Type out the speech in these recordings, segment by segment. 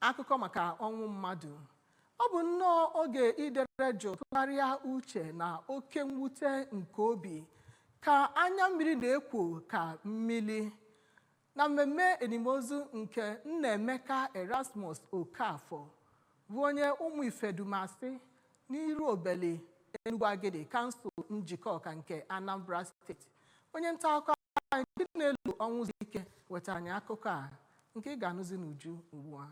akụkọ maka ọnwụ mmadụ ọ bụ nnọọ oge idere jụụ tụgharịa uche na oke mwute nke obi ka anya mmiri na-ekwo ka mmiri na mmemme elimozu nke nnaemeka erasmus okafọ bụ onye ụmụ ifedumasị n'iruobeli enugwu agidi kansụl njikọka nke anambra steeti onye nta akụkọ anyị Chinelu Ọnwụzike wetara anyị akụkọ a nke ị ga-anụzi n'uju ugbu a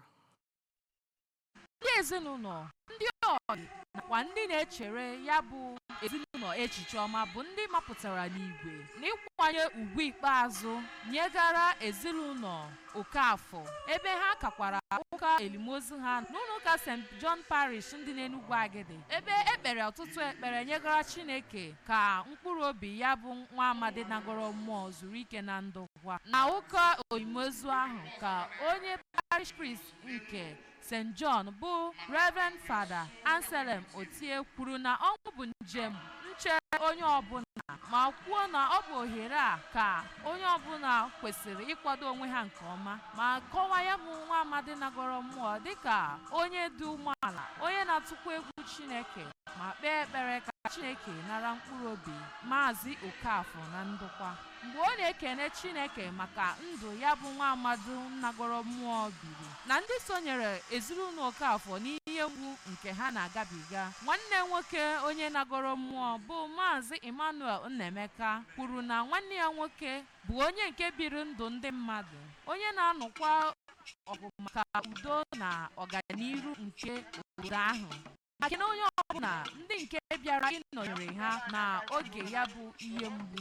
ndị ezinụlọ ndị ọyị nakwa ndị na-echere ya bụ ezinụlọ echiche ọma bụ ndị mapụtara n'igwe n'ịkwanye ugwu ikpeazụ nyegara ezinụlọ Okafọ ebe ha kakwara ụka elimozu ha n'ụlọụka St John Parish dị n'Enugwu Agidi ebe e kpere ọtụtụ ekpere nyegara Chineke ka mkpụrụ obi ya bụ nwa amadi nagoro mmụọ zuru ike na ndokwa na ụka elimozu ahụ ka onye parish priest nke st john bụ reverend father anselm otie kwuru na ọnwụ bụ njem na-eche onye ọbụla ma kwuo na ọ bụ ohere a ka onye ọbụla kwesịrị ịkwado onwe ha nke ọma ma kọwaa ya bụ nwa amadi nagoro mmụọ dịka onye dị umeala onye na-atụkwa egwu chineke ma kpee ekpere ka Chineke nara mkpụrụ obi Maazị Okafor na ndokwa. Mgbe ọ na-ekene Chineke maka ndụ ya bụ nwa amadi nagoro mmụọ biri na ndị sonyere ezinụlọ Okafor n'ihe mgbu nke ha na-agabiga, nwanne nwoke onye nagoro mmụọ bụ Maazị Emmanuel Nnaemeka kwuru na nwanne ya nwoke bụ onye nke biri ndụ ndị mmadụ, onye na-anụkwa ọgụ maka udo na ọganiru nke obodo ahụ. ma kene onye ọbụla ndị nke bịara ịnọnyere ha na oge ya bụ ihe mgbu